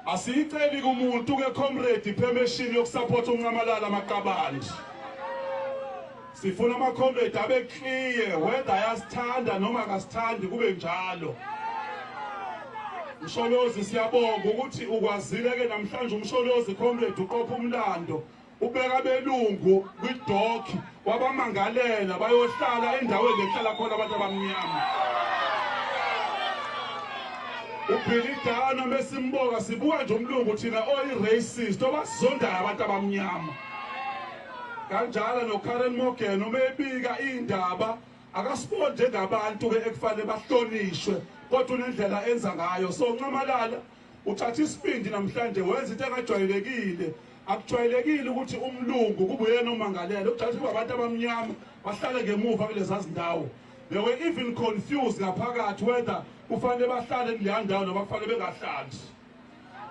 Asiyiceli kumuntu ke comrade permission yokusupport uncamalala maqabandi. Sifuna ama comrade abe clear whether ayasithanda noma akasithandi kube njalo. Msholozi siyabonga ukuthi ukwazile ke namhlanje umsholozi comrade uqopha umlando. ubeka abelungu kwidokhi wabamangalela bayohlala endaweni ehlala khona abantu abamnyama ubhilidana mesimboka sibuka nje umlungu thina oyi-racist obasizondayo abantu abamnyama kanjalo nokaren morgan uma ebika iy'ndaba akasiboni njengabantu-ke ekufanele bahlonishwe kodwa unendlela enza ngayo so ncamalala uthatha isibindi namhlanje wenza into engajwayelekile Akujwayelekile ukuthi umlungu kube uyena omangalela. Ukujwayelekile ukuba abantu abamnyama bahlale ngemuva kuleza zindawo. They were even confused ngaphakathi whether kufanele bahlale kuleya ndawo noma kufanele bengahlali.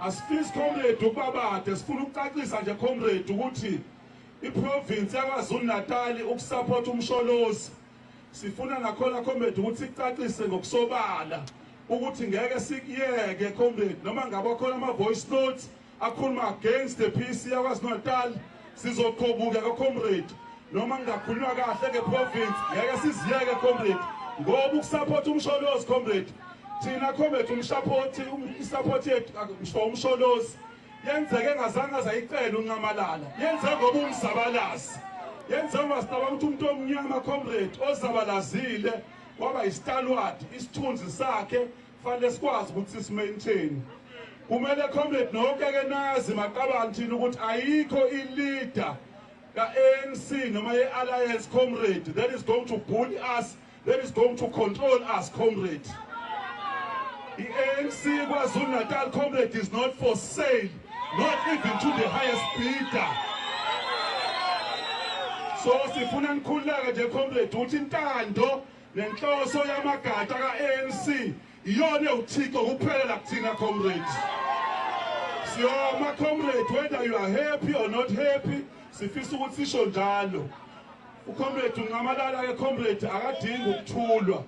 Asifisi comrade ukuba bade sifuna ukucacisa nje comrade ukuthi iprovince yaKwaZulu Natal ukusupport umsholozi sifuna nakhona comrade ukuthi icacise ngokusobala ukuthi ngeke sikuyeke comrade noma ngabe khona ama voice notes akhuluma against the peace yakwaZulu-Natal sizoqhobuka kaComrade noma ngingakhuluma kahle ngeprovince ngeke siziyeke comrade ngoba ukusaphotha umsholozi comrade thina comrade umshaphothi isaphothi yethu ngisho umsholozi yenzeke engazange azayicela uncamalala yenze ngoba umzabalazi yenze ngoba sitaba ukuthi umuntu omnyama comrade ozabalazile waba yisitalwadi isithunzi sakhe Fanele sikwazi ukuthi simaintain. Kumele comrade nonke ke nazi maqabani thina ukuthi ayikho ileader ka-ANC noma ye-alliance comrade that is going to bully us that is going to control us comrade i-anc kwazulu-natal comrade is not for sale not even to the highest bidder so sifuna nikhululeke nje comrade ukuthi intando Nenhloso yamagata ka-ANC iyona ewuthixo kuphelela kuthina comrades. Siyoma comrade whether you are happy or not happy sifisa ukuthi sisho njalo. Ucomrade unqamalala ke comrade akadingi ukuthulwa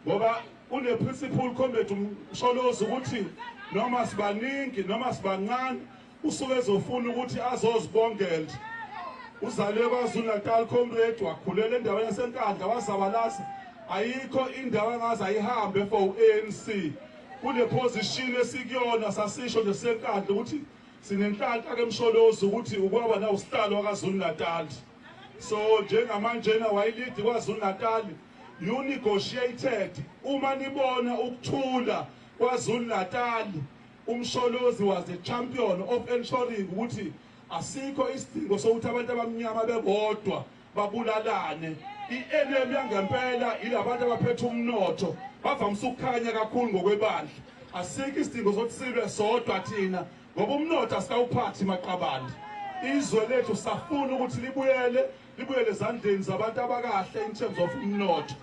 ngoba une principle comrade umsholozi ukuthi noma sibaningi noma sibancane Usuke ezofuna ukuthi azozibongeld. Uzalwe KwaZulu-Natal comrade wakhulela endaweni yaseNkandla wazabalaza. Ayikho indawo angaze ayihambe for u-ANC. Kule position esikuyona sasisho nje seNkandla ukuthi sinenhlanhla ke Msholozi ukuthi ukwaba na usihlalo kaZulu-Natal. So njengamanjena wayilidi KwaZulu-Natal you negotiated uma nibona ukuthula KwaZulu-Natal UMsholozi was a champion of ensuring ukuthi asikho isidingo sokuthi abantu abamnyama bebodwa babulalane i-enemy yangempela yilabantu abaphethe umnotho bavamise ukukhanya kakhulu ngokwebandla asikho isidingo sokuthi silwe sodwa thina ngoba umnotho asikawuphathi maqabane izwe lethu safuna ukuthi libuyele ibuyele ezandleni zabantu abakahle in terms of umnotho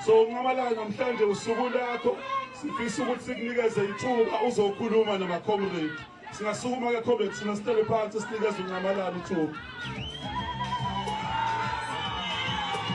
so unqamalala namhlanje usuku lakho sifisa ukuthi sikunikeze ithuba uzokhuluma namacomrade singasukuma ke comrade sina sihlele phansi sinikeze unqamalala ithuba